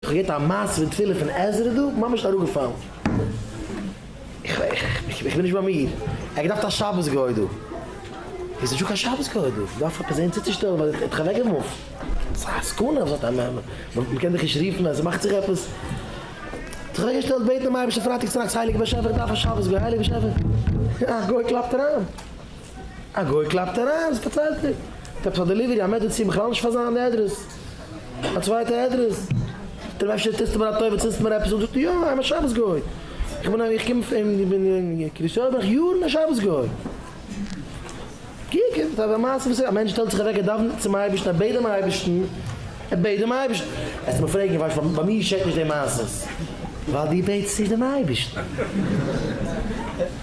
כ'האב געהערט א מעשה פון תפילה פון עזרא דא, ממש אראפגעפאלן. איך בין נישט ביי מיר. ער האט געדארפט א שבת גוי דא. עס איז נישטא קיין שבת גוי דא. איך דארף עפעס זעהן צוצושטעלן ווייל איך האב זיך אוועקגעמופט. ס'איז א סכנה אזוי א מעמד. מ'קען דיך נישט רופן אז עס מאכט זיך עפעס. זיך אוועקגעשטעלט בעטן דעם אייבערשטן פרייטאג צונאכטס, הייליגער באשעפער איך דארף א שבת גוי. הייליגער באשעפער. א גוי קלאפט אריין. א גוי קלאפט אריין, וואס פארציילט ער? האט עפעס א דעליווערי, א מעדעצין, בכלל נישט פאר זיין אדרעס, א צווייטע אדרעס, זאגט ער אים אפשר טוסטו מיר א טובה צינדסט מיר עפעס אן, זאגט ער יא, איים א שבת גוי, איך בין איך קום פון איך בין אין קרית יואל בין איך יארן א שבת גוי, קוק עפעס א מעשה וואס א מענטש שטעלט זיך אוועק ער דאווענט צום אייבערשטן ער בעט דעם אייבערשטן, ער בעט דעם אייבערשטן, וועסטו מיר פרעגן ווייל איך ביי מיר געשעט נישט די מעשות, ווייל דו בעטסט נישט דעם אייבערשטן.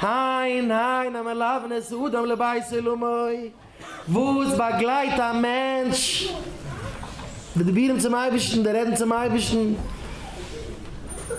הן הן המלוונות אדם לבית עולמו, וואס באגלייט א מענטש בדיבורים צום אייבערשטן, די רעדן צום אייבערשטן.